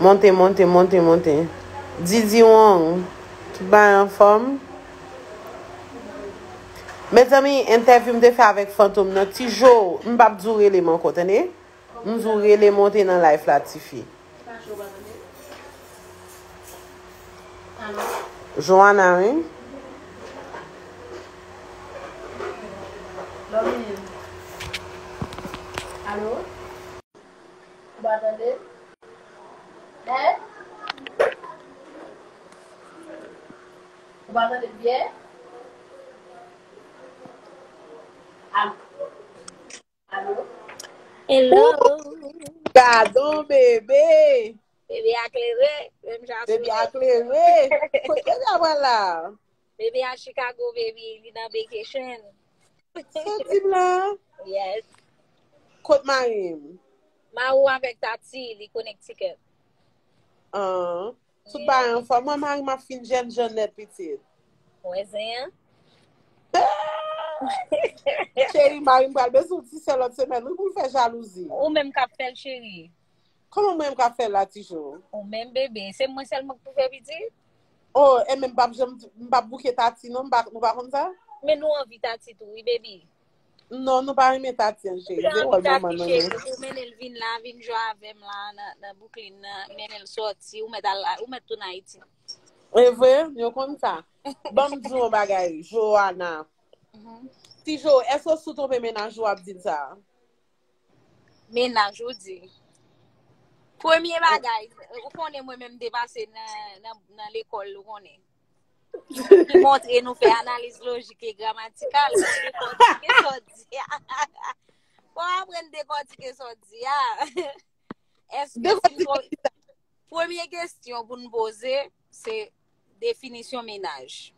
Monte monte monte monte Didi wong tout bagay anfòm Mezanmi entèvyou m te fè avèk Fantom nan ti Jo m pap di w rele m ankò tande. M zou rele monte nan life la tifi. Joana wi. Hello. Gadon bebe. Bebe a klere. Bebe a klere. Kote bebe a wè la? Bebe a Chicago, bebe. Li nan vacation. Soti m la? Yes. Kot marim? Marou avèk tati, li konektiket. An. Tout bagay anfòm. Mwen marim ap fin jèn jan nèt pitit. Wè zen an. Cheri marim pral bezwen ti sè lòt semèn wi pou l fè jalouzi. Ou menm kap fèl cheri. Kòman mwen kap fèl la ti jo. Ou menm bebe. Se mwen sèlman k pou fè pitit? Oh e menm m pap janm m pap bouke tati non nou pa konn sa? Men nou anvi tati tou wi baby. Non, nou pa renmen Tatian cheri. Mwen anvi Tati cheri, ou mennen l vin la, vin jwa avèm la nan Bouklin nan, mennen l soti, ou mèt al, ou mèt tou nan Ayiti. E vre, yo konn sa. Banm di yon bagay, Joana. Mhm. Ti Jo, eske ou sou tonpe menaj ou ap di sa? Menaj ou di. Premye bagay, ou konnen mwen menm depase nan lekòl, ou konnen. Ki montre nou fè analiz lojik e gramatikal. Dekòtike sa w di a. Fò w aprann dekòtike sa w di a. Premye kesyon pou nou poze, se definisyon menaj.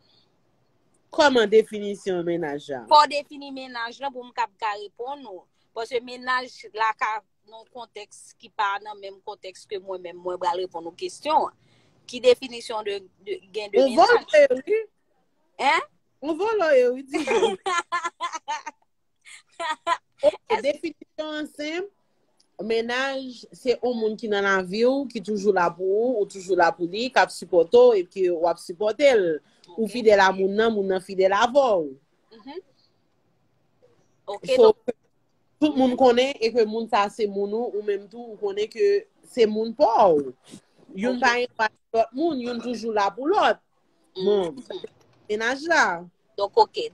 Kòman definisyon menaj a? Fò w defini menaj lan pou m kab ka reponn ou. Pòske menaj la ka nan kontèks ki pa nan menm kontèks ke mwen menm mwen bral reponn ou kestyon an. Ki definisyon de gen de mizaj? Ou vòlò e wi. Hein? Ou vòlò e wi di vòlò. E definisyon an sen, menaj se ou moun ki nan lavi ou, ki toujou la pou ou, ou toujou la pou li, kap sipòte ou, epi wap sipòte l. Ou fidèl a moun nan, moun nan fidèl avè ou. Ok. Tout moun konnen e ke moun sa se moun ou, ou menm tou ou konnen ke se moun pa ou. Youn pa yon pa ti lòt moun, youn toujou la pou lòt. Bon, menaj la. Donk ok.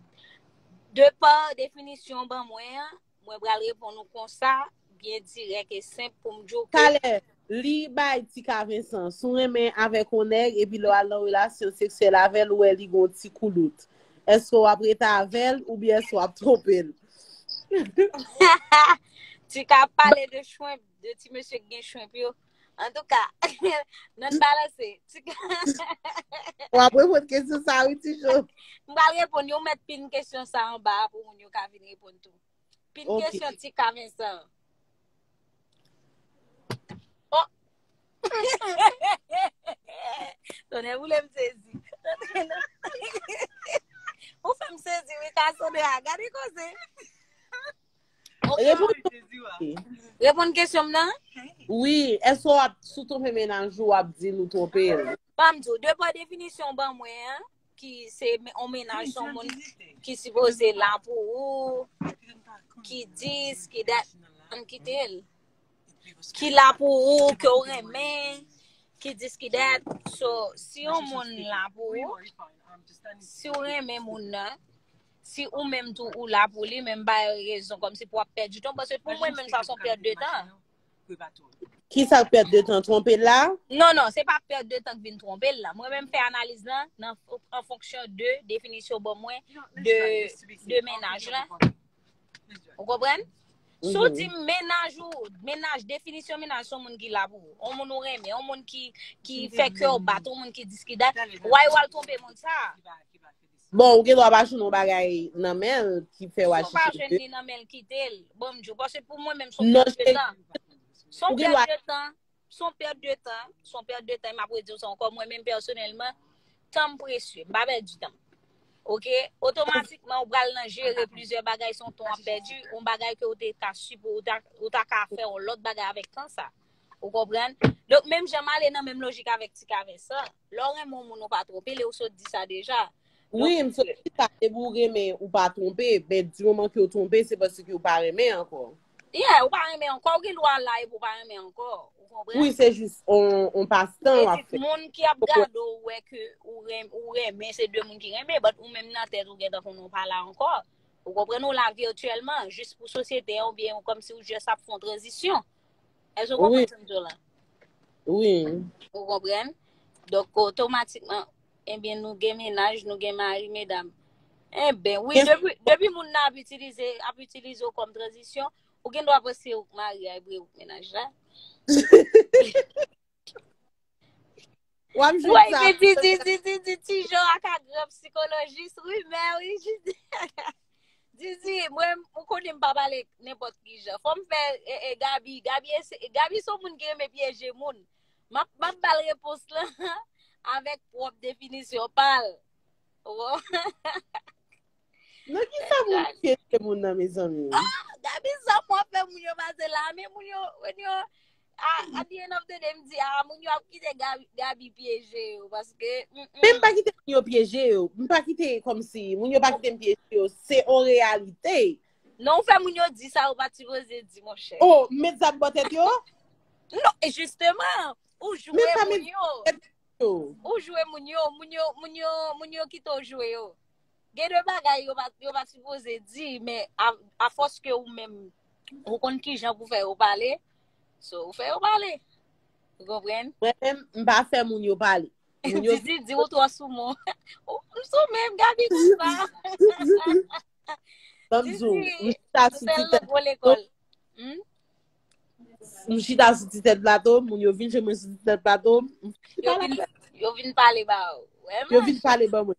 De pa definisyon ou ban mwen an, mwen pral reponn ou konsa, byen dirèk e senp pou m di w ke. Talè, Li bay ti ka Vincent, si w renmen avèk yon nèg epi lè w al nan relasyon seksyèl avè l ou wè li gen yon ti koulout, èske w ap rete avè l oubyen èske w ap twonpe l? Tika ap pale de chwenp, de ti mesye ki gen chwenp yo. Antouka, nan balanse. Ou ap reponn kesyon sa wi ti Jo. M pral reponn yo, ou mèt pin kesyon sa anba pou moun yo ka vin reponn tou. Pit kesyon ti ka Vincent. Oh! Tonè boule m sezi. Ou fè m sezi wi ka sou de a. Gade koze. Repon kesyon m nan? Wi, eswa sou tonpe menaj ou ap di nou tonpe l. Pam di ou, depa definisyon ban mwen an. ki se yon menaj son moun ki sipoze la pou ou, ki dis, ki dat, an kite l. Ki la pou ou, ke ou renmen, ki dis, ki dat. So, si yon moun la pou ou, si ou renmen moun nan, si ou menm tou ou la pou li, menm bay rezon, kom si pou ap pèdi ton, pou mwen menm sa son pèdi de tan. Kwe pa tou. Ki sa pèt de tan twonpe l la? Non, non, se pa pèt de tan k vin twonpe l la. Mwen menm fè analiz lan nan an fonksyon de definisyon w ban mwen de mennaj la. Ou konprann? Si w di m mennaj ou, mennaj, definisyon mennaj se yon moun ki la pou ou. Yon moun ou renmen, yon moun ki fè kè w bat, yon moun ki dis ki dat. Why w al twonpe moun sa a? Bon ou gen dwa pa jwenn yon bagay nan men l ki fè w Si ou pa aji jwenn li nan men l kite l, bon m di w, paske pou mwen menm s on Non pèt de tan. S on ou gen pèt dwa de tan, s on pèt de tan, s on pèt de tan e m ap redi w sa ankò, mwen menm pèsonèlman, tan m presye, m pa pèdi tan. Ok, otomatikman ou pral nan jere plizyè bagay son ton ap pèdi, on bagay ke ou te ka sipo, ou ta, ou ta ka fè on lòt bagay avèk tan sa. Ou konprann? Donk menm jan m ale nan menm lojik avèk ti kave sa, Lè w renmen yon moun ou pa twonpe li ou sot di sa deja. Wi m sot di sa depi ou renmen ou pa twonpe men di moman ke ou twonpe se paske ou pa renmen ankò. Yeah ou pa renmen ankò ou gen dwa la epi ou pa renmen ankò ou konprann. Wi se jis yon pas tan wap fè. Moun ki ap gade w wè ke ou renmen se de moun ki renmen but ou menm nan tèt ou gentan konnen ou pa la ankò ou konprann ou la virtuellement jis pou sosyete an oubyen komsi ou jis ap fè yon tranzisyon. Èske ou konprann sa m di w la? Wi. Ou konprann? Donk, otomatikman, enben, eh nou gen menaj, nou gen mari, medam. Enben, eh wi, depi moun nan ap itilize, ap itilize ou kòm tranzisyon, ou gen dwa panse ou k mari a epi ou k menaj la. Wap jwenn Woy sa. men di di di di di ti jo ak agrand psikolojis wi mè wi jidi di di mwen ou konnen m pa pale nenpot ki jan fòm fè e, e, Gabi Gabi ese- Gabi son moun ki renmen pyeje moun map map bal repons lan avèk pwòp definisyon pal Wo, Nan ki sa moun pyeje moun nan mezanmi? Gabi sa mwen fè moun yo pase la men moun yo moun yo At the end of the day, m di a, moun yo ap kite Gaby pyeje yo, paske... Men m pa kite moun yo pyeje yo, m pa kite kom si, moun yo pa kite m pyeje yo, se on reyalite. Non, ou fè moun yo di sa, ou pa ti voze di, mon chè. Oh, m met zam bò tèt yo? Non, e jisteman, ou jwe moun yo. Ou jwe moun yo, moun yo, moun yo, moun yo kite ou jwe yo. Gen de bagay yo pa ti voze di, men a fòs ke ou men, ou konn ki jan pou fè ou pale, So ou fè yo pale. Ou konpren? Mwen men m pa fè moun yo pale. Didi di ou tro sou moun. M sou men gabi kon sa. Didi, m fè lè gwo lekol. Hmm? M chita sou ti tèt plato, moun yo vin jemwen sou ti tèt plato. Yo vin pale ba ou. Yo vin pale ba mwen.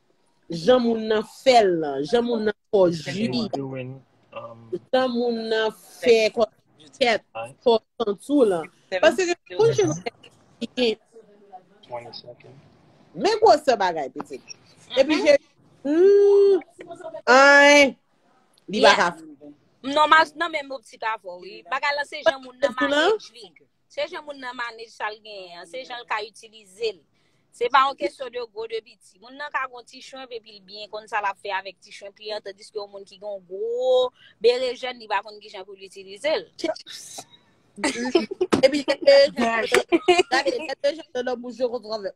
Jan moun nan fèl lan, jan moun nan fò ji, jan moun nan fè kò tèt, fò santou lan. Pase gen moun jan moun nan ki gen. Men gwo se bagay pitit. E pi jè. Ay. Li baka. Non mas nan men moun pitit avò. Bagay lan se jan moun nan manjè jvig. Se jan moun nan manage sa l genyen an, se jan l ka itilize l. Se pa yon kesyon de gwo, de piti. Moun nan ka gen yon ti chenv epi l byen konn sa l ap fè avèk ti chenv li an, tandiske yon moun ki gen yon gwo berejèn, li pa konn ki jan pou l itilize l. Epi gen berejèn, gade, gen berejèn nan nan bouch yo konn travèse.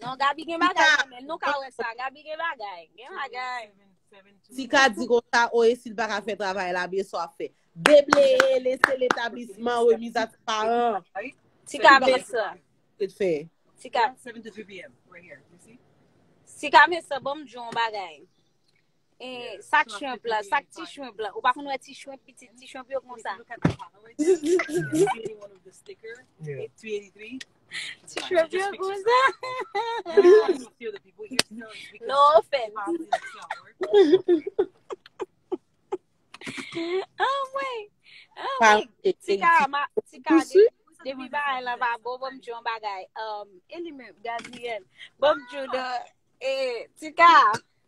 Non, Gabi gen bagay nan men. Nou ka wè sa. Gabi gen bagay. Gen bagay. Tika di kon sa, o e sil pa ka fè travay la byen so ap fè. Debleye, lese letablisman, remiz a ti paran. Tika men sa. Te te fè. Tika. Tika men sa, bon m di yon bagay. E sak shrimp la, sak ti shrimp la. Ou pa konn wè ti shrimp piti, ti shrimp yo kon sa. Ti shrimp yo kon sa. No offense. Oh mwen. Oh mwen. Ti ka, ma, ti ka. Depi ba el la ba bo, bom djon bagay. Um, eli men, Gabriel. Bom djon, e, ti ka.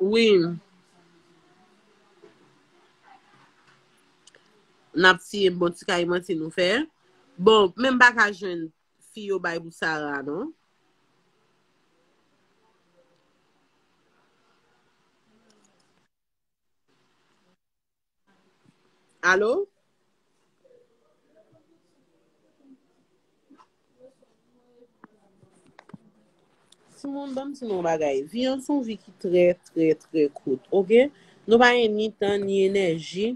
Wi m Nap tiye m bon ti kay manti nou fè Bon men m pa ka jwenn fi yo bay pou Sarah non. Alo? Ti moun banm ti nou bagay. Vi an son vi ki trè trè trè kout. Ok? Nou pa gen ni tan ni enèji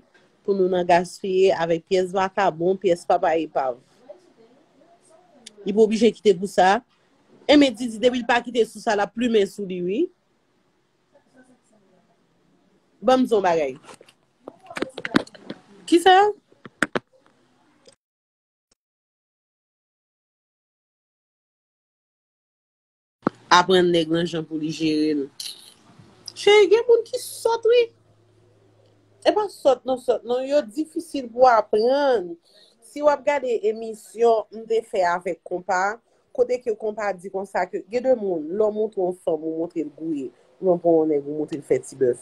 pou nou nan gaspiye avèk pyès vakabon, pyès papa epav. Li pou oblije kite pou sa. Enben Didi depi l pa kite sou sa l ap plumen sou li wi. Ban m di w yon bagay. Ki sa? Aprann nèg lan jan pou li jere l. Cheri gen moun ki sòt wi. E pa sòt non sòt non. Yo difisil pou aprann. Si w ap gade emisyon m te fè avèk konpa, Kote ke konpa di konsa ke gen de moun lè w montre yon fanm ou montre l gouye ou byen pran yon nèg ou montre l fè ti bèf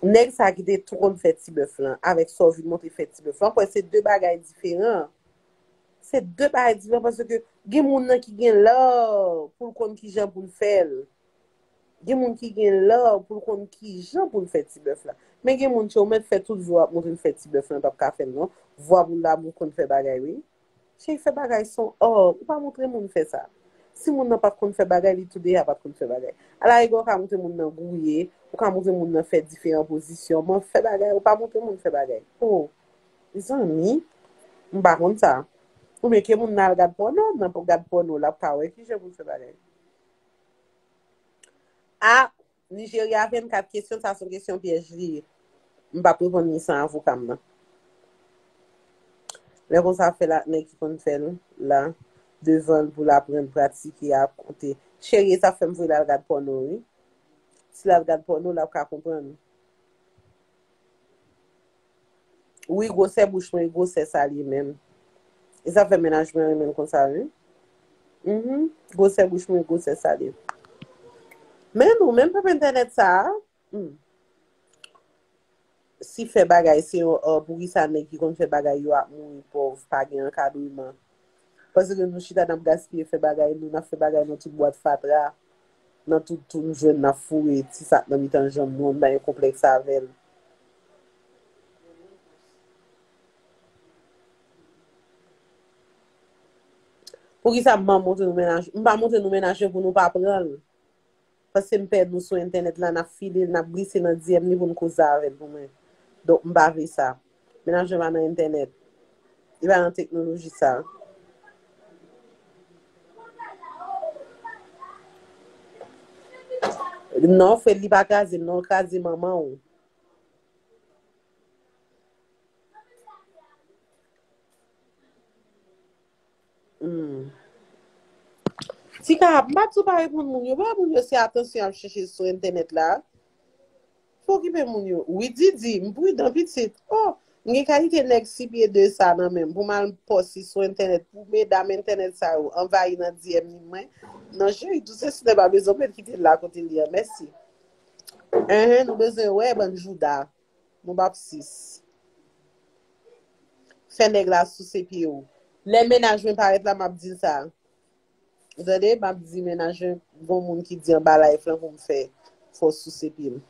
nèg sa ki te tou konn fè ti bèf lan avèk sa w vin montre fè ti bèf lan kwè se de bagay diferan se de bagay diferan paske gen moun nan ki gen lè pou l konn kijan pou l fè l gen moun ki gen lè pou l konn kijan pou l fè ti bèf la men gen moun ke ou mèt fè tout jou a ap montre l fè ti bèf lan l pap ka fè l non vwa pou l damou konn fè bagay wi. Cheri fè bagay son or ou pa montre moun fè sa si moun nan pat konn fè bagay li tou deya pat konn fè bagay ala egwa ou ka montre moun nan gouye ou ka montre moun nan fè diferan pozisyon m'en fè bagay ou pa montre moun fè bagay oh mezanmi m pa konn sa ou byen ke moun nan al gad pòno nan gad pòno lap ka wè kijan pou l fè bagay ah Nigeria 24 kesyon sa son kesyon pyèj li ye m pap reponn li san avoka m nan lè konsa fèl ak nèg ki konn fèl la devanl poul aprann pratike a konte cherie sa fèm vle lal gad pòno wi si lal gad pòno lap ka konprann. Wi gwosè bouch mwen gwosè sa li menm e sa fè mennaj mwen renmenl konsa wi humm gwosè bouch mwen gwosè sa li men nou menm pèp entènèt sa humm si fè bagay se yon art poukisa nèg ki konn fè bagay yo ap mouri pòv pa gen ankadreman Pase ke nou chita nap gaspiye fè bagay nou, nap fè bagay nan tout bwat fatra, nan tout tou nou jwenn nap foure ti sak nan mitan janm nou an, nou pa gen konplèks avèl. Poukisa m pa montre nou mennaj, m pa montre nou mennaj pou nou pa pranl. Pase m pè nou sou entènèt la nap file l nap glise nan DM li pou n koze avè l pou mwen donk m pa vle sa men lajan pa nan entènèt li pa nan teknoloji sa a. Non Fred li pa kraze m non l kraze manman w. Tika, m pa di w pa reponn moun yo, bay moun yo se atansyon y ap chèche sou entènèt la. Fè w okipe moun yo. Wi Didi, m pridan pitit. O! M gen kalite nèg si pye de sa nan men m pou m al pòsi sou entènèt pou medam entènèt sa yo anvayi nan DM ni mwen. Non cheri, tout se Sinè pa bezwen w mèt kite l la kote l ye an. Mèsi. Enhen, nou bezwen wè bann jouda. Nou bapsis. Fè nèg la souse pye ou. Lè mennaj mwen parèt la map dil sa. Ou tande map di mennaj mwen gon moun ki di anba live lan pou m fè fè w souse pye m.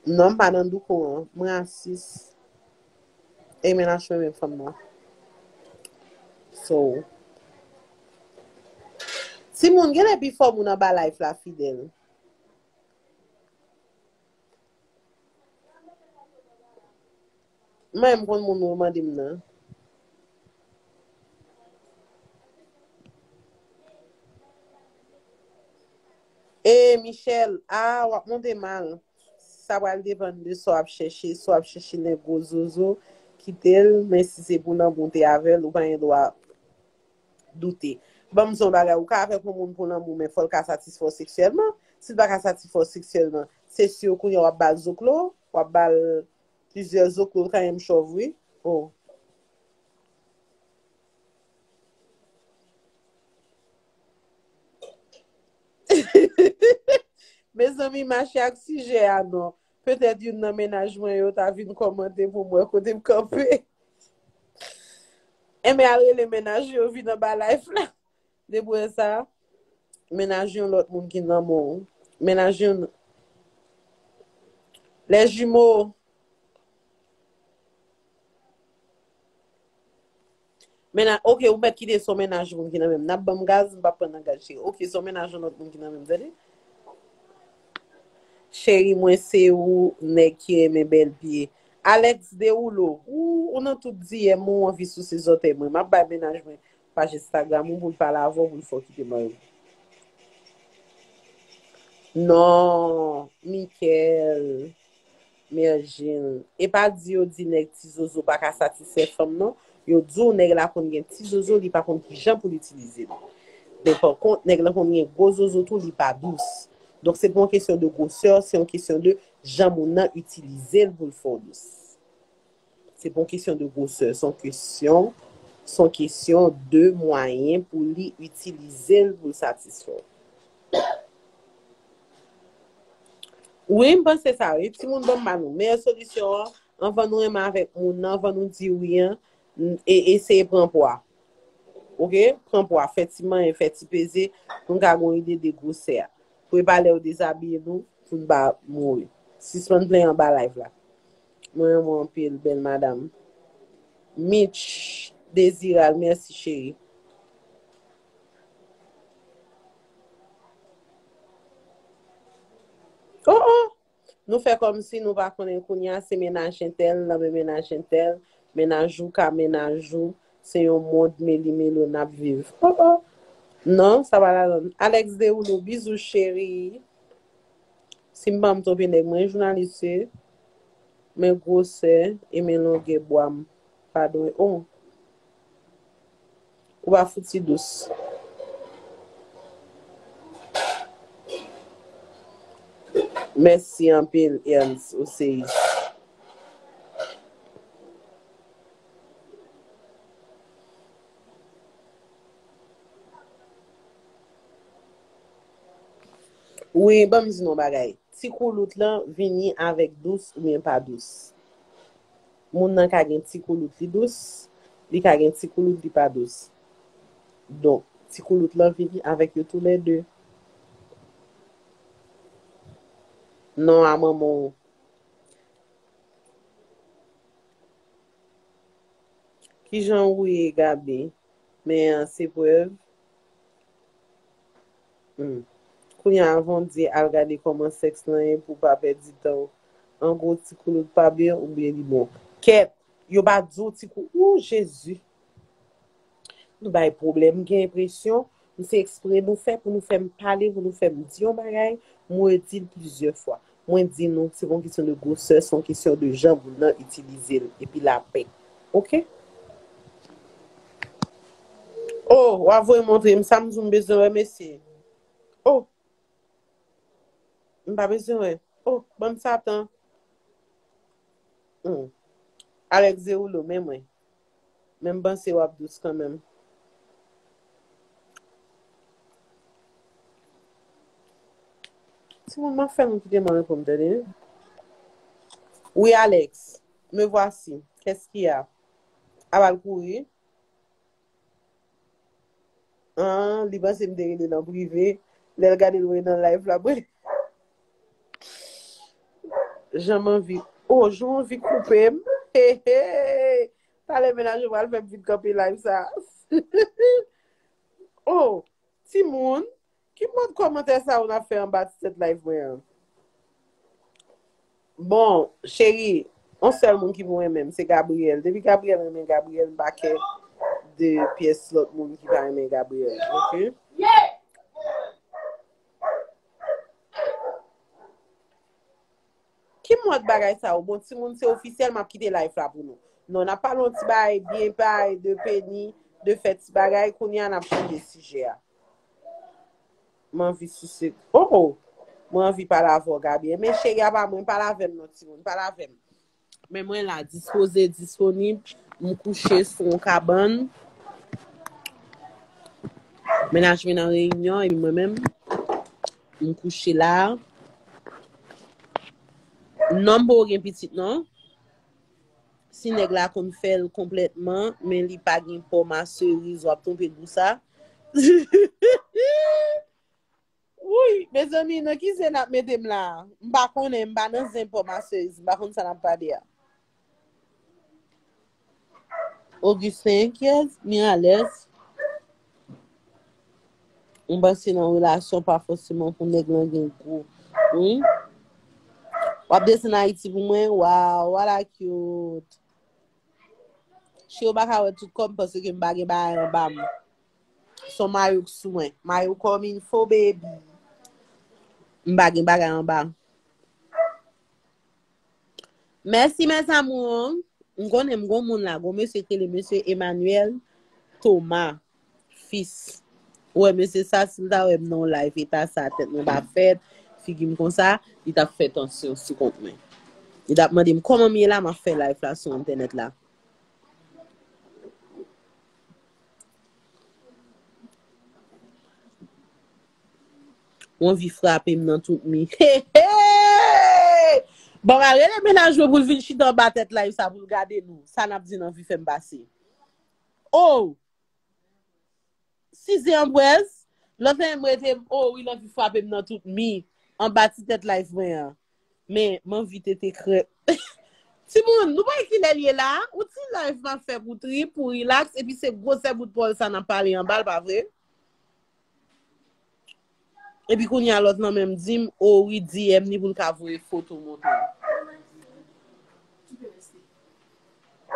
Non m pa nan douko an. M rasis. Amen ap chwe menm fanm nan. So. Timoun genlè pifò moun anba life la fidèl. M renmn konn moun ou mande m nan. E Michel, ah wap monte mal. Sa pral depann de sa w ap chèche, si w ap chèche nèg gwo zozo, kite l, men si se pou lanmou w te avè l, ou pa gen dwa doute. Ban m di w yon bagay, ou ka avèk yon moun pou lanmou men fò l ka satisfè w seksyèlman, si l pa ka satisfè w seksyèlman, se siw kounye a w ap ba l zoklo, w ap ba l plizyè zoklo, l ka menm chòv wi, oh. Mezanmi mache ak sijè a non. Petèt youn nan mennaj mwen yo ta vin kòmante pou m wè kote m kanpe. Enben al rele mennaj yo vin anba live la. Depi wè sa, mennaj yon lòt moun ki nan men w. Mennaj yon Les jumeaux. Mennaj, ok ou mèt kite son mennaj moun ki nan menm. Nap banm gaz, m pap pran nan gaz cheri. Ok son mennaj yon lòt moun ki nan menm tande. Cheri mwen se ou nèg ki renmen bèl pye. Alex Derouleau, ooh ou nan tout diyèm mwen ou anvi souse zòtèy mwen. Map bay mennaj mwen paj Instagram ou poul pale avèw poul fè w kite mariw. Non Michaelle, Mergine, Epa di yo di nèg ti zozo paka satisfè fanm non, yo di w nèg la konn gen ti zozo li pa konn kijan pou l itilize li. Men pankont nèg lan konn gen gwo zozo tou li pa dous. Donk se pa yon kesyon de gwosè, se yon kesyon de jan moun nan itilize l pou l fè w dous. Se pa yon kesyon de gwosè, son kesyon, son kesyon de mwayen pou li itilize l pou l satisfè w. Wi, m panse sa wi. Timoun banm ba nou meyè solisyon an, anvan nou renmen avèk moun nan, anvan nou di wi an, e eseye pran pwa. Ok, pran pwa, fè ti manyen, fè ti peze, pou n ka gen yon ide de gwosè a. Pou e pa lè yo dezabiye nou, pou n pa mouri. Sispann plenyen anba live la. Mwen renmen w anpil bèl madam. Mitch Desiral merci chéri. Oh oh Nou fè kòmsi nou pa konnen kounya se mennaj entèl nan men mennaj entèl, mennaj ou ka mennaj ou, se yon mond meli melo nap viv oh oh Non sa pa ladann Alex Derulo bizou chéri. Sim pam tronpe nèg mwen jounalis se men gwosè e men longè bwam pa dwe oh ou pa fouti dous mèsi anpil Ernst ou seyis. Wi banm di nou yon bagay ti koulout lan vini avèk dous oubyen pa dous moun nan ka gen ti koulout li dous li ka gen ti koulout li pa dous donk ti koulout lan vini avèk yo tou lè 2 non a manman w kijan ou ye Gaby men an se prèv. Humm. Kounya avanw di al gade kòman sex lan ye pou pa pèdi tanw. Angwo ti koulout pa byn oubyn li bon. Kèt! Yo pa diw ti kou ooh Jezi! Nou bay pwoblèm m gen enpresyon m se ekspre nou fè pou nou fèm pale pou nou fèm di yon bagay m redil plizyè fwa Mwen di nou, se pa yon kesyon de gwosè, se yon kesyon de jan moun nan itilize l, epi lapè. Ok? Oh, w ap voye montre m sa m di w m bezwen wè, mesye? Oh! M pa bezwen wè. Oh, ban m sa tan. Hum. Alex Zerullo, men mwen. Men m panse wap dous kanmenm. Timoun map fè moun kite mwen pou m tande wi. Wi Alex, me voici. Qu'est-ce qu'il y a? Aba l kouri. Ahh li panse m te rele nan prive lè l gade l wè nan live la mwen Jan m anvi Oh jan w anvi koupe m Heehee Talè mennaj ou pral fè m vin kanpe live sa Oh timoun Ki mòd kòmantè sa ou nan fè anba ti tèt live mwen an? Bon, cheri, on sèl moun ki pou renmen m se Gabriel. Depi Gabriel renmen Gabriel, m pa kè de pyès lòt moun ki pa renmen Gabriel. Ok? Ki mòd bagay sa yo? Bon, timoun se ofisyèl map kite life la pou nou. Non, nap pale yon ti bagay byen bay de Penny, de fè ti bagay, kounye a nap chanje sijè a. M anvi sise. Oh oh! Mwen anvi pale avè w Gaby. Enben cheri a pa mwen, pale avè m non timoun, pale avè m. Men mwen la, dispoze, disponib, m kouche sou yon kabann. Mennaj mwen nan reyinyon epi mwen menm. M kouche la. Non boo gen pitit non. Si nèg la konn fèl konplètman men li pa gen po ma cerise wap tonpe pou sa. Wouyy mezanmi nan ki zen nap metem la. M pa konnen m pa nan zen po ma cerise m pa konn sa nap pale a. Augustin enkyèt, Miralles, m panse nan relasyon pa fòseman pou nèg lan gen gwo, wi. W ap desann Ayiti pou mwen? Waw, wala cute. Cheri w pa ka wè tout kò m paske m pa gen bagay anba m. Son mayo k sou mwen. Mayo kòm il fo baby. M pa gen bagay anba m. Mèsi mes amours. M konnen m gon moun la, gon mesye ki rele mesye Emmanuel Thomas fils. Ou wè mesye sa si l ta wè m nan yon live eta sa tèt mwen pa fèt, figi m konsa, li tap fè tansyon sou kont mwen. Li tap mande m kòman m ye la map fè live la sou entènèt la. Ou anvi frape m nan tout mi. Heheheheh! Bon ba rele mennaj mwen pou l vin chita anba tèt live sa pou l gade nou. Sa n ap di n anvi fè m pase. Oh! Size anbwèz, lòt lè m rete m oh wi l anvi frape m nan tout mi. Anba ti tèt live mwen an. Men, m anvi tete krèp. Timoun, nou pa wè ki lè l ye la? Yon ti live m ap fè pou trip, pou rilaks, epi se gwosè bout pòl sa n ap pale anba l, pa vre? Epi kounya lòt lan menm di m o wi DM li pou l ka voye foto montre m.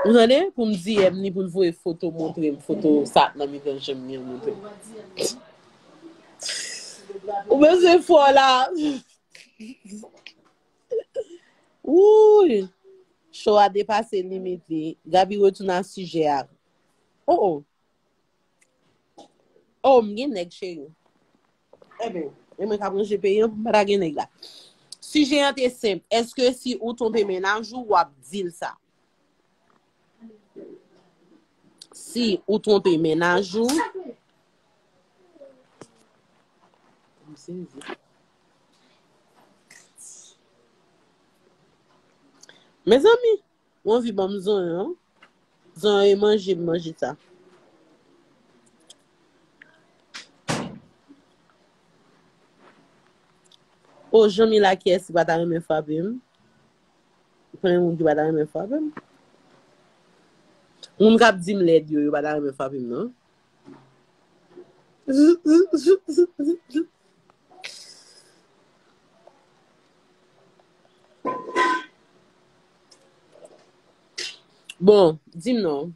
Ou tande? Pou m DM li pou l voye foto montre m, foto sa k nan mitan je m li an montre m. Ou bezwen fò la. Wouuyy! Show a depase limit li. Gaby retounen a sijè a. O o! Oh m gen nèg cheri. Enben, e mwen kap ranje peyi an pou m pa ta gen nèg la. Sijè an te senp, eske si ou tonbe menaj ou, wap dil sa? Si ou tonbe menaj ou, Mezanmi! Ou anvi banm zonyon. Zonyon e manje m manje sa. Oh Janmila kiyès ki pa ta renmen frape m? Konbyen moun ki pa ta renmen frape m? Moun kap di m lèd yo yo pa ta renmen frape m non. Bon, di m non.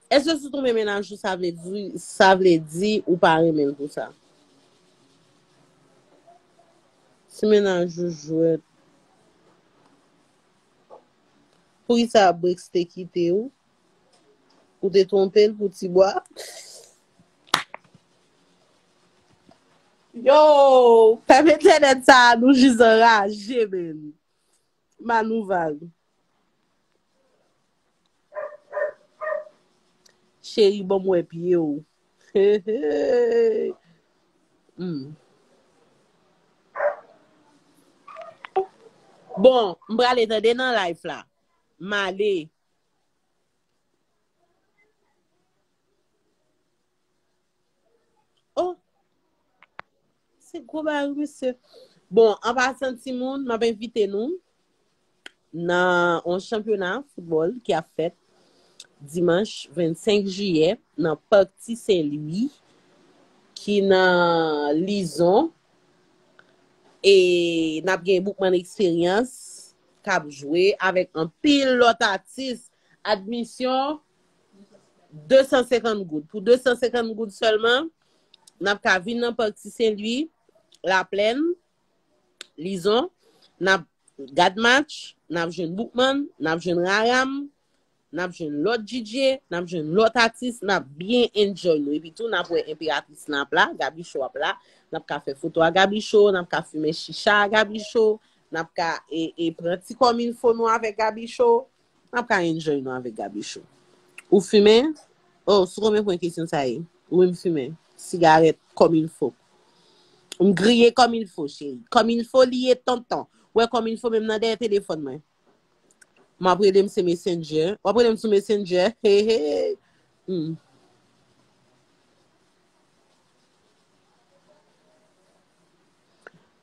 Eske si w tonbe menaj ou sa vle di, sa vle di ou pa renmen l pou sa? Si menaj ou jwèt, poukisa Brix te kite ou? Ou te twonpe l pou ti bwa. Yo, pèp entènèt sa a nou jis anraje menn. Manouval. Cheri banm wè pye w. Bon, m prale tande nan life la. M ale. Oh! Se gwo ba yon misye. Bon, an pa san ti moun, m ap envite nou nan an chanpyona foutbol ki ap fèt dimanch 25 jiyè nan Park Ti Sen Lwi ki nan Lizon e n ap gen Boukman Eksperyans. k ap jwe avèk anpil lòt atis, admisyon 250 goud. Pou 250 goud sèlman, n ap ka vin nan Parc Ti Sen Lwi, Laplèn, Lizon, n ap gad match, n ap jwenn Boukman, n ap jwenn Raram, Nap jwenn lòt DJ, nap jwenn lòt atis, nap byen enjoy nou. Epi tou nap wè enperatris lan ap la, Gaby Show ap la. Nap ka fè foto a Gaby Show, nap ka fimen chicha a Gaby Show, nap ka e e pran ti kòmilfo nou avèk Gaby Show. Nap ka enjoy nou avèk Gaby Show. Ou fimen? Oh, sou konbyen pwen kesyon sa ye? Wi m fimen. Sigarèt kòmilfo. M griye kòmilfo cheri. Kòmilfo li ye tonton. Ou wè kòmilfo menm nan dèyè telefòn mwen. Map rele m se messenger. Wap rele m sou messenger. Hey hey. Hmm.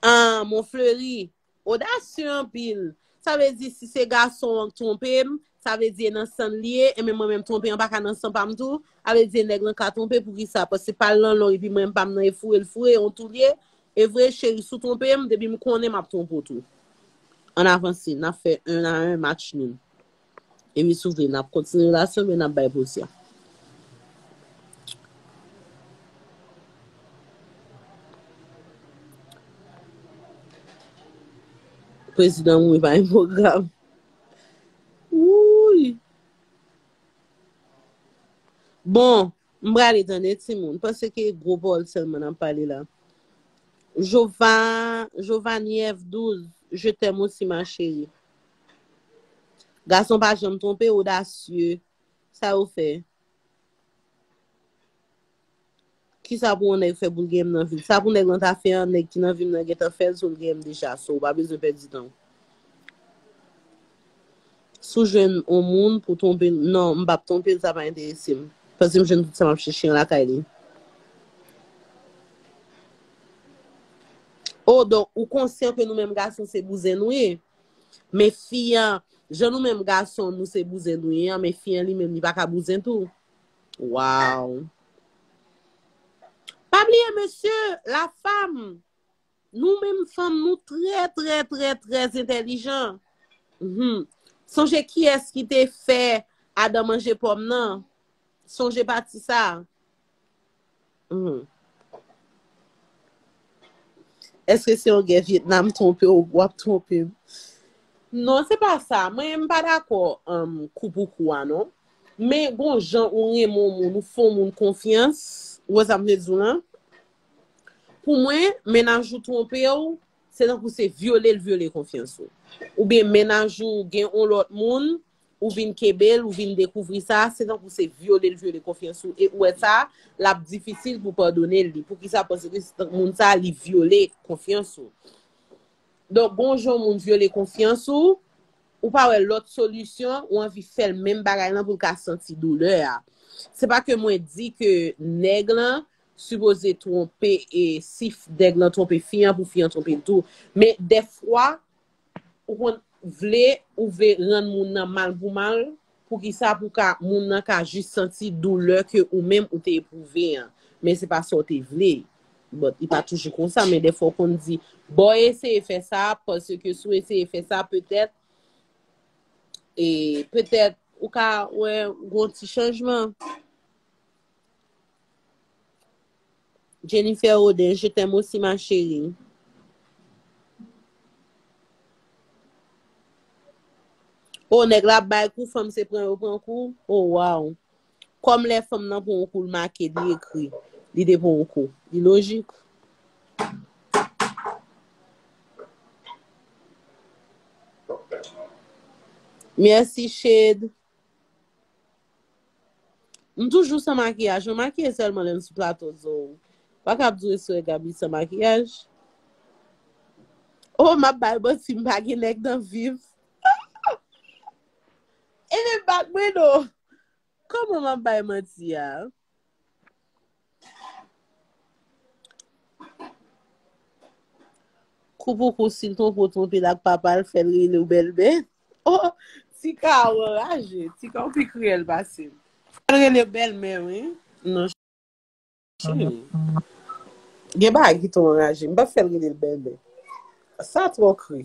Ah, mon fleuri. Audacieux anpil. Sa vle di si se gason an k twonpe m, sa vle di e nan san l li ye, e men mwen menm twonpe an pa ka nan san pa m tou. A vle di nèg lan ka twonpe poukisa? Paske pa l nan lon epi mwen m pa m nan e foure l foure, on tou l ye. Evre cheri sou twonpem depi m konnen map twonpe w tou ann avanse nap fè 1 a 1 match noun epi sou vle nap kontinye relasyon oubyen nap bay poz ya. Prezidan mouri pa gen pwogram wouuyy bon. M prale tande timoun. Panse ke gwo pawòl sèlman nap pale la. Jova, Jovaniev 12, je t'aime aussi ma chérie. Gason pa janm twonpe, odasye. Sa yo fè? Kisa pou yon nèg fè pou l gen m nan vi l? Sa pou nèg lan ta fè an, nèg ki nan vi m nan gentan fè l, so l gen m deja. So ou pa bezwen pèdi tan w. Si w jwenn yon moun pou twonpe l, non, m pap twonpe l, sa pa enterese m. Paske m jwenn tout sa m ap chèche an lakay li. Oh, donk ou konsyan ke nou menm gason se bouzen nou ye. Men fi an, jan nou menm gason nou se bouzen nou ye an, men fi an li menm li pa ka bouzen tou. Waww. Pa bliye mesye, la femme. Nou menm fanm nou trè trè trè trè entèlijan humm sonje kiyès ki te fè Adam manje pòm nan sonje pati sa humm èske se yon gè Vietnam twonpe w wap twonpe m non se pa sa mwen m pa dakò kou pou kou a non men gon jan ou renmen yon moun ou fè yon moun konfyans ou wè sa m vle di w lan Pou mwen, mennaj ou twonpe w, se tankou se vyole l vyole konfyans ou. Oubyen mennaj ou gen on lòt moun, ou vin kenbe l, ou vin dekouvri sa, se tankou se vyole l vyole konfyans ou e ou wè sa, l ap difisil pou padone l li. Poukisa? Paske se tankou moun sa li vyole konfyans ou. Donk gon jan yon moun vyole konfyans ou, ou pa wè lòt solisyon, ou anvi fè l menm bagay lan pou l ka santi doulè a. Se pa ke mwen di ke nèg lan sipoze twonpe e si nèg lan twonpe fi an pou fi an twonpe l tou men dèfwa ou konn vle ou vle rann moun nan mal pou mal poukisa pou ka moun nan ka jis santi doulè ke ou menm ou te epwouve an men se pa sa w te vle bòt li pa toujou konsa men dèfwa ou konn di bon eseye fè sa paske si w eseye fè sa petèt e petèt ou ka wè gon ti chanjman. Jennifer Auden je t'aime aussi ma chérie. Oh nèg la ap bay kou fanm se pran yo pran kou oh waw kòm lè fanm nan pran yon kou l make li ekri li te pran yon kou li lojik Merci Shade M toujou san makiyaj, mwen makiye sèlman lè m sou plato Zo ou pa kab di ou eswè Gaby san makiyaj Oh map bal manti m pa gen nèg nan vim Enben bat mwen non Kòman map bay manti a? Kou pou kou sil twonpe w twonpe l ak papa l fèl rele w bèlmè oh tika ou anraje tika ou pi kriyèl pase m fèl rele w bèlmè wi non cheri gen bagay ki twò anraje m pap fèl rele l bèlmè sa twò kri.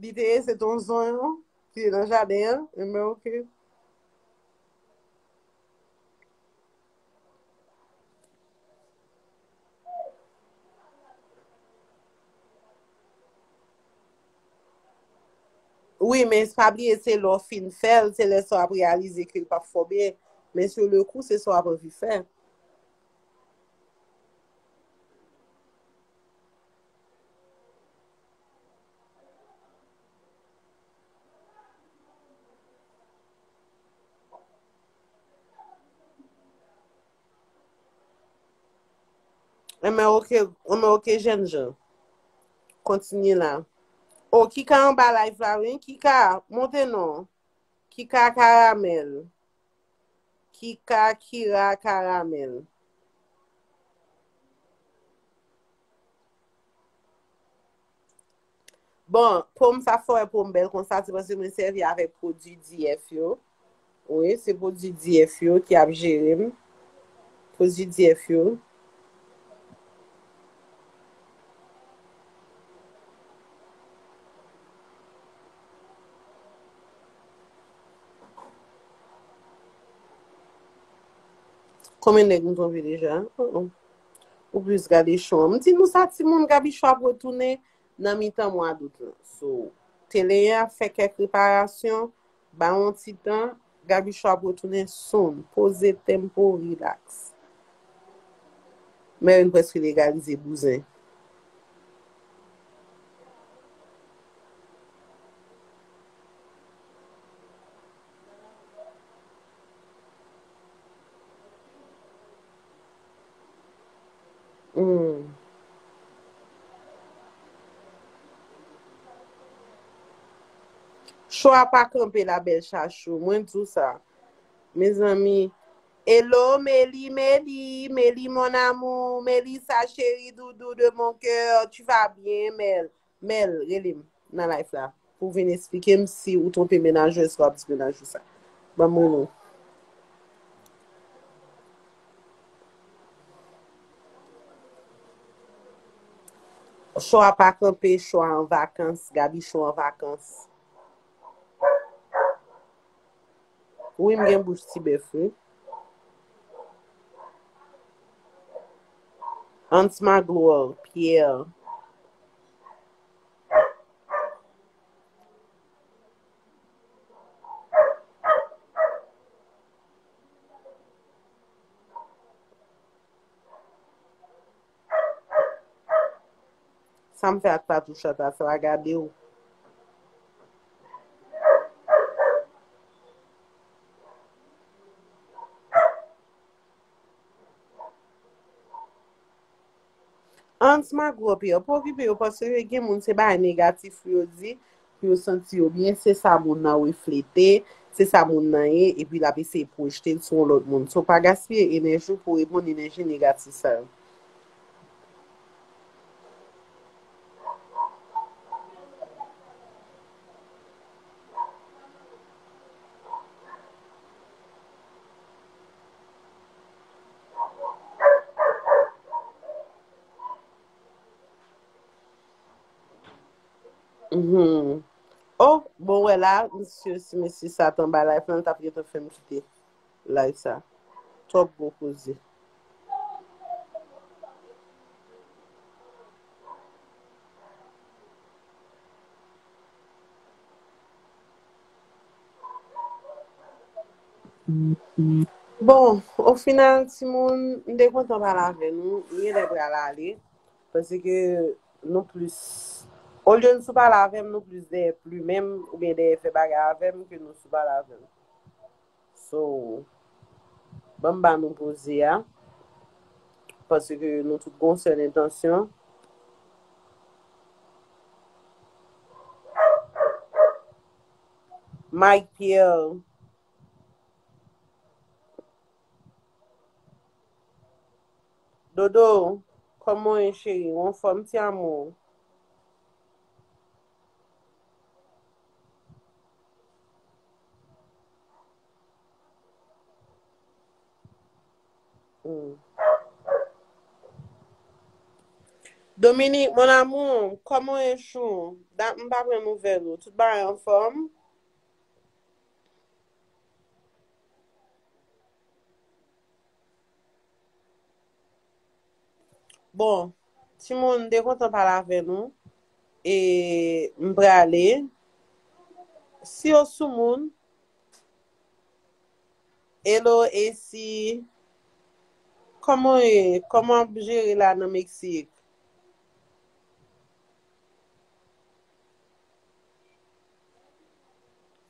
Li te ye se ton zon yo ki te nan jaden an. E men ok. Wi men pa bliye se lè w fin fè l, se lè sa w ap reyalize ke l pa fò byen. Men sou le kou se sa w ap anvi fè. An men ok, an men ok jèn jan. Kontinye la. O, ki ka an ba live la wi? Ki ka? Monte non. Ki ka karamèl? Kika Kira Karamèl. Bon, po m sa fè po m bèl konsa se paske mwen sèvi avèk pwodui DF yo. Wi, se pwodui DF yo ki ap jere m. Pwodui DF yo. Konbyen nèg m twonpe deja? Ou plis gade show an. M di nou sa timoun Gaby show ap retounen nan mitan mwa dout lan. So, tele 1 ap fè kèk reparasyon, ba yon ti tan, Gaby show ap retounen soon. Poze tempo, relax. Mary m preske legalize bouzen. Cho a pa kanpe la bèl chachou, mwen di w sa. Mezanmi, elo Meli, Meli, Meli mon amour, Melisa cheri doudou de mon kè, tu va byen Mel? Mel relem nan life la pou vin esplikem si ou twonpe menaj ou eske wap di menaj ou sa banm moun ou. Cho a pa kanpe cho a an vakans Gaby cho an vakans. Wi m gen bouch ti bèf wi. Hans Magloire Pierre. Sam fè ak patou chat a sa gadew. Ans ma gwo pier pa okipe yo paske yo gen moun se bagay negatif yo di Pou yo santi yo byen, se sa moun nan reflete, se sa moun nan ye, epi l ap eseye pwojte l sou yon lòt moun. So, pa gaspiye enèji w pou reponn enèji negatif sa yo. Humm oh bon wè la misye si mesye sa tan bay life lan li tap gentan fèm kite live sa twòp gwo koze. Bon o final timoun m te kontan pale avè nou m genlè pral ale Paske nou plis, olye n sou pale avè m, nou plis dèyè plimen m oubyen dèyè fè bagay avè m ke nou sou pale avè m. So, ban m ba nou poze a, paske nou tout gon sèl entansyon. Mike Pierre Dodo Koman w ye cheri ou anfòm ti amour. Dominique mon amour Koman w ye chou dat m pa pran nouvèl ou tout bagay anfòm. Bon timoun m te kontan pale avè nou e m prale si yo sou moun Hello Esi Koman w ye? Koman w ap jere la nan Meksik?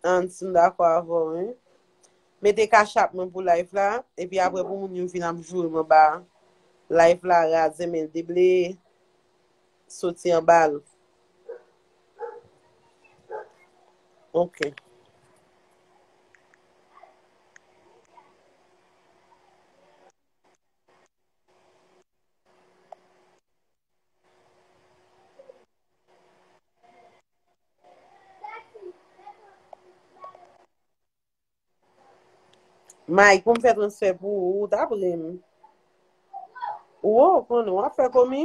Hans m dakò avèw wi. Mete cash app mwen pou live la epi aprè pou moun yo vin ap joure m anba live la razè men l debleye soti anba l ok. Mike pou m fè transfè pou ou, ou tap ri m. Ou wè ou konnen, wap fè komi?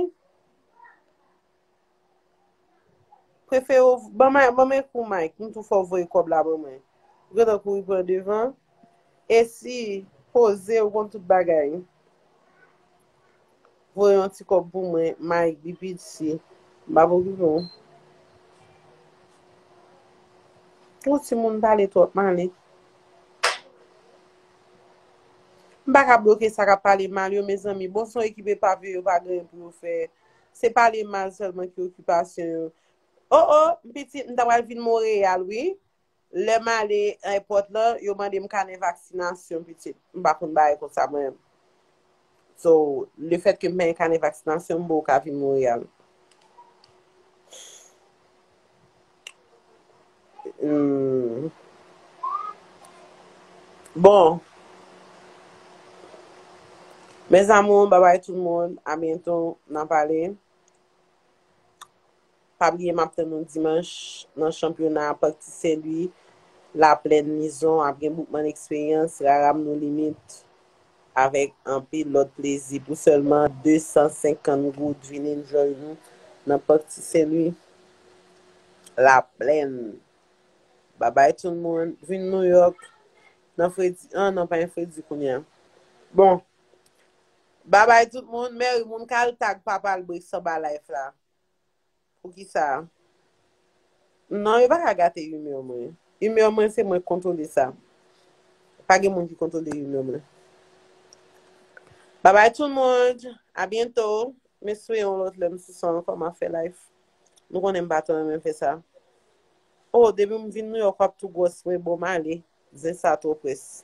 Prefere w ban may, ban men kou may ki m tou fè w voye kòb la ban mwen. Ou gentan kouri pran devan. E si poze ou konn tout bagay. Voye yon ti kòb pou mwen, may depi dsi. M pa p okipe w. Ou ti moun pale twòp m ale. M pa ka bloke sa k ap pale mal yo mezanmi. Bon son ekip epav yo yo pa gen pou yo fè. Se pale mal sèlman ki okipasyon yo. O o, m pitit, m ta pral vin Monreyal wi. Lè m ale èpòt lan, yo mande m kanè vaksinasyon pitit. M pa konn bagay kon sa mwen. So, le fèt ke m pa gen kanè vaksinasyon, m pa ka vin Monreyal. Humm bon mes amours bye bye tout moun a bientot nan pale pa bliye map tann nou dimanche nan chanpyona parc ti sen lwi la plaine lizon ap gen boukman expérience rara m no limit avèk anpil lòt plezi pou sèlman 250 goud vin enjoy nou nan Parc Ti Sen Lwi la plèn babay tout moun vin Nouyòk nan fredi an nan pa gen fredi kounya bon babay tout moun mèri moun ka al tag papa l Briksanba life la Poukisa? Non, yo pa ka gate humeur mwen. Humeur mwen se mwen kontwole sa. Pa gen moun ki kontwole humeur mwen. Bye bye tout moun. A byento. M espere yon lòt lè m sou son ankò ma fè life. Nou konnen m pa twò renmen fè sa. Oh, depi m vin New York wap tou gwòs vre bon m ale. Zen sa twò près.